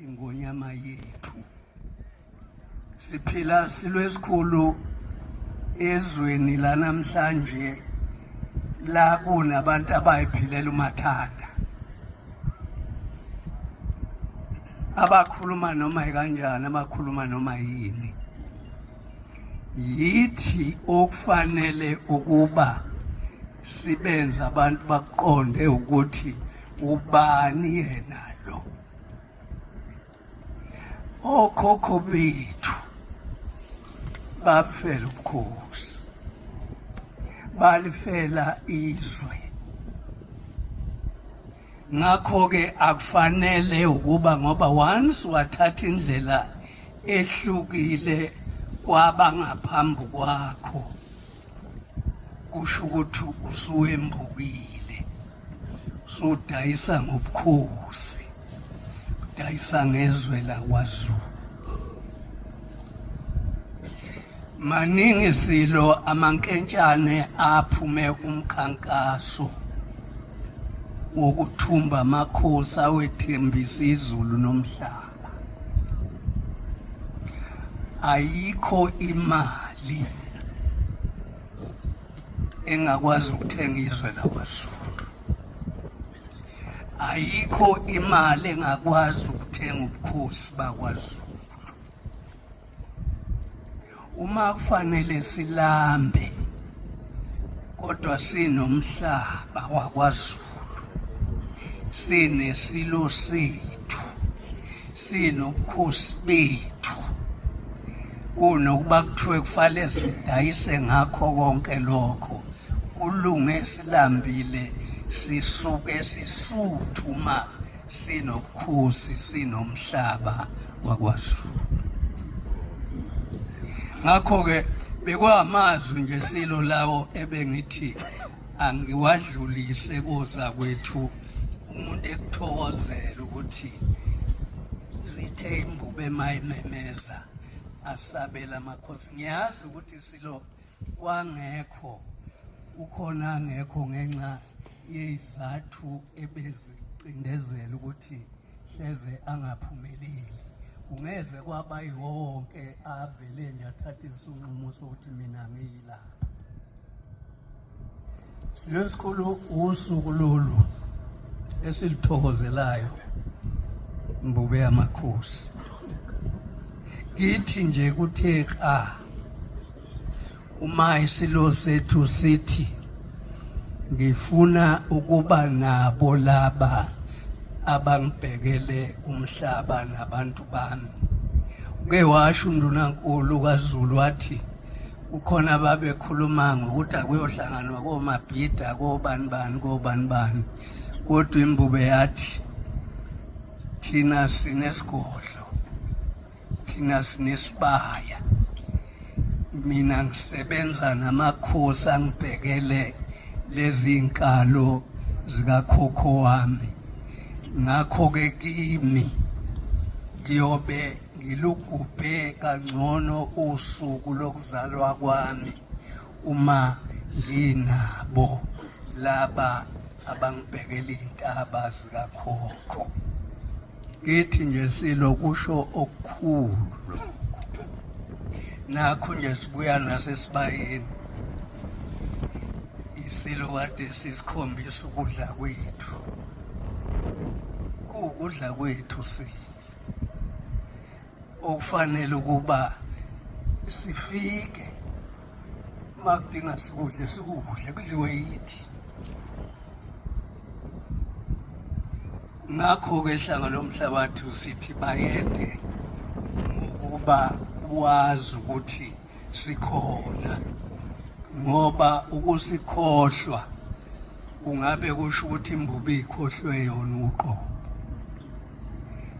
ingonyama yethu siphila silwesikhulu ezweni lanamhlanje la kunabantu abayiphilela umathanda abakhuluma noma kanjani abakhuluma noma yini yithi okufanele ukuba sibenze abantu baqonde ukuthi ubani yena lo okhokho bethu bafela ubukhosi balifela izwe ngakho-ke akufanele ukuba ngoba once wathatha indlela ehlukile kwabangaphambi kwakho kusho ukuthi usuwembukile usudayisa ngobukhosi udayisa ngezwe lakwazulu maningi silo amankentshane aphume umkhankaso wokuthumba amakhosi awethembisa izulu nomhlaba ayikho imali engakwazi ukuthenga izwe lakwazulu ayikho imali engakwazi ukuthenga ubukhosi bakwazulu uma kufanele silambe kodwa sinomhlaba wakwaZulu sinesilo sethu sinobukhosi bethu kunokuba kuthiwe kufanele sidayise ngakho konke lokho kulunge silambile sisuke sisuthu ma sinobukhosi sinomhlaba wakwaZulu ngakho-ke bekwamazwi nje silo lawo ebengithi angiwadlulise koza kwethu umuntu ekuthokozela ukuthi zithe imbube mayimemeza asabela amakhosi ngiyazi ukuthi silo kwangekho ukhona angekho ngenxa yezizathu ebezicindezela ukuthi hleze angaphumeleli kungeze kwaba yiwo wonke avele nje athathe isinqumo sokuthi mina ngiyilapha Silesikhulu usuku lolu esilithokozelayo mbube yamakhosi kithi nje kuthe xa uma isilo sethu sithi ngifuna ukuba nabo laba abangibhekele umhlaba nabantu bami uke washo undunankulu kaZulu wathi kukhona ababekhuluma ngokuthi akuyohlanganwa komabhida kobani bani kobani bani kodwa imbube yathi thina sinesigodlo thina sinesibaya mina ngisebenza namakhosi angibhekele lezi nkalo zikakhokho wami ngakho-ke kimi ngiyobe ngilugubhe kangcono usuku lokuzalwa kwami uma nginabo laba abangibhekela iy'ntaba zikakhokho ngithi nje silo kusho okukhulu nakho nje sibuya nasesibayeni isilo kade sisikhombisa ukudla kwethu kuwukudla kwethu silo okufanele ukuba sifike uma kudinga sikudle sikudle kudliwe yithi ngakho-ke hlanga lomhlabathi sithi bayede ngokuba wazi ukuthi sikhona ngoba ukusikhohlwa kungabe kusho ukuthi imbubi ikhohlwe yona uqobo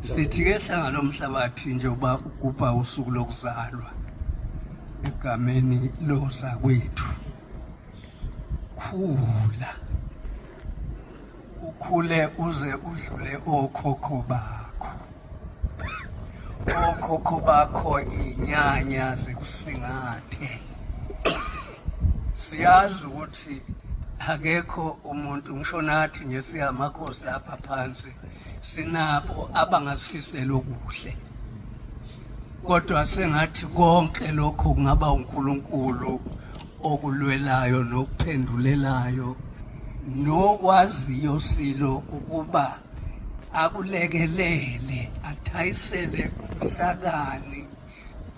sithi ke hlanga lomhlabathi njengoba ugubha usuku lokuzalwa egameni loza kwethu khula ukhule uze udlule okhokho bakho okhokho bakho inyanya zikusingathe siyazi ukuthi akekho umuntu ngisho nathi nje siyamakhosi lapha phansi sinabo abangasifisela okuhle kodwa sengathi konke lokho kungaba uNkulunkulu okulwelayo nokuphendulelayo nokwaziyo silo ukuba akulekelele athayisele ubuhlakani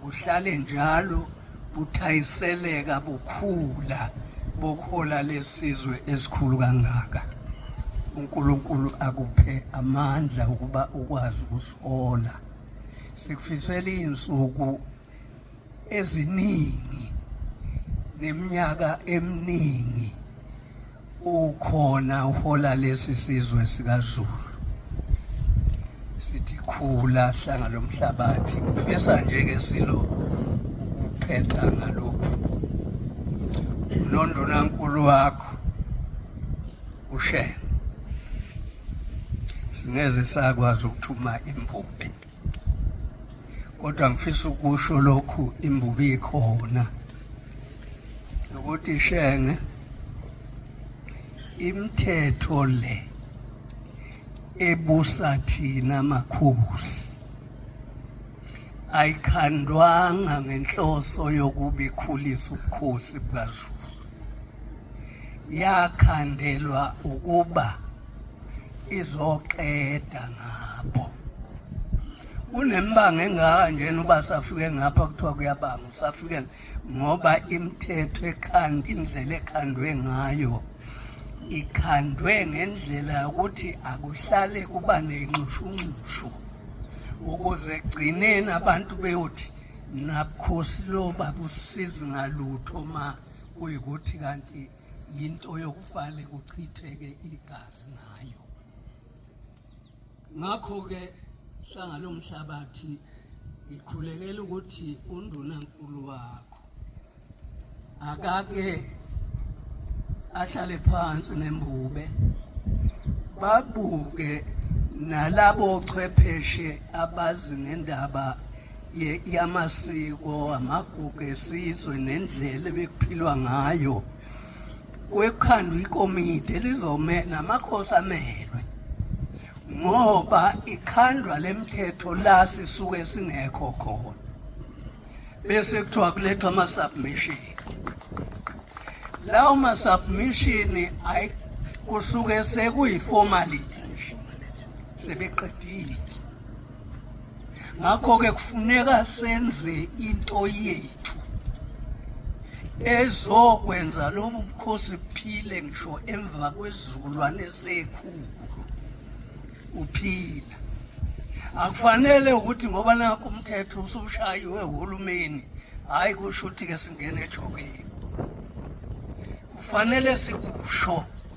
buhlale njalo buthayiseleka bukhula bokuhola lesizwe esikhulu kangaka uNkulunkulu akuphe amandla ukuba ukwazi ukusihola sikufisela izinsuku eziningi neminyaka eminingi ukhona uhola lesi sizwe sikaZulu sithi khula hlanga lomhlabathi ngifisa nje ke silo ukuphetha ngalokhu nondunankulu wakho ushenge singeze sakwazi ukuthuma impuphe kodwa ngifisa ukusho lokhu imbubi ikhona ukuthi shenge imithetho le ebusa thina makhosi ayikhandwanga ngenhloso yokuba ikhulise ubukhosi bukaZulu yakhandelwa ukuba izoqeda ngabo kunembanga engaka njena uba safike ngapha kuthiwa kuyabanga usafike ngoba imithetho ekhanda indlela ekhandwe ngayo ikhandwe ngendlela yokuthi akuhlale kuba nenxushunxushu ukuze gcineni abantu beyothi nabukhosi lo babusizi ngalutho ma kuyikuthi kanti yinto yokufale kuchitheke igazi ngayo ngakho-ke hlangalo mhlabathi ngikhulekela ukuthi undunankulu wakho akake ahlale phansi nembube babuke nalabo chwepheshe abazi ngendaba yamasiko amagugu esizwe nendlela ebekuphilwa ngayo kwekhandwa ikomidi elizomela amakhosi amelwe ngoba ikhandwa lemthetho la sisuke singekho khona bese kuthiwa kulethwa ama-submission lawo ma-submission kusuke sekuyi-formality nje sebeqedile ngakho-ke kufuneka senze into yethu ezokwenza lobu bukhosi buphile ngisho emva kwesizukulwane sekhulu uphila akufanele ukuthi ngoba nakho umthetho usushayiwe uhulumeni hhayi kusho ukuthi-ke singene ejokeni kufanele sikusho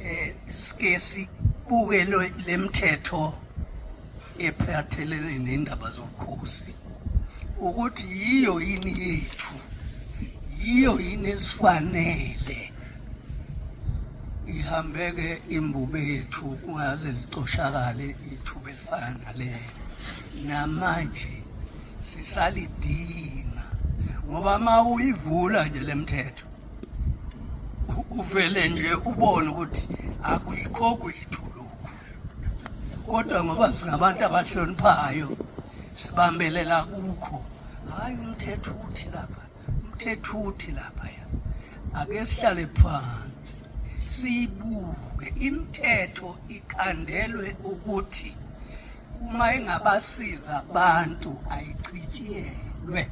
eh sike sibuke lemthetho ephathelene nendaba zobukhosi ukuthi yiyo yini yethu yiyo yini esifanele ihambeke imbube yethu kungaze licoshakale ithuba elifana nalelo namanje sisalidinga ngoba uma uyivula nje lemthetho uvele nje ubone ukuthi akuyikho kwethu lokhu kodwa ngoba singabantu abahloniphayo sibambelela kukho hhayi umthetho uthi lapha umthetho uthi lapha ya ake sihlale phansi siyibuke imithetho ikhandelwe ukuthi uma engabasiza abantu ayichitshiyelwe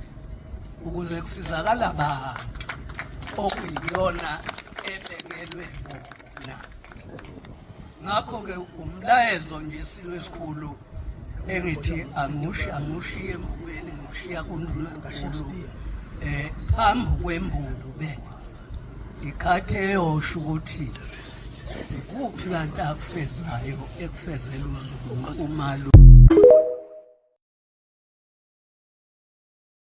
ukuze kusizakala abantu okuyiyona ebekelwe bona ngakho-ke umlayezo nje silo esikhulu engithi angushi angishiye emukweni ngishiya kundlunankulu um eh, phambi kwembube ikhathi eyosho ukuthi zikuphi kanti akufezayo ekufezela uzulu umalu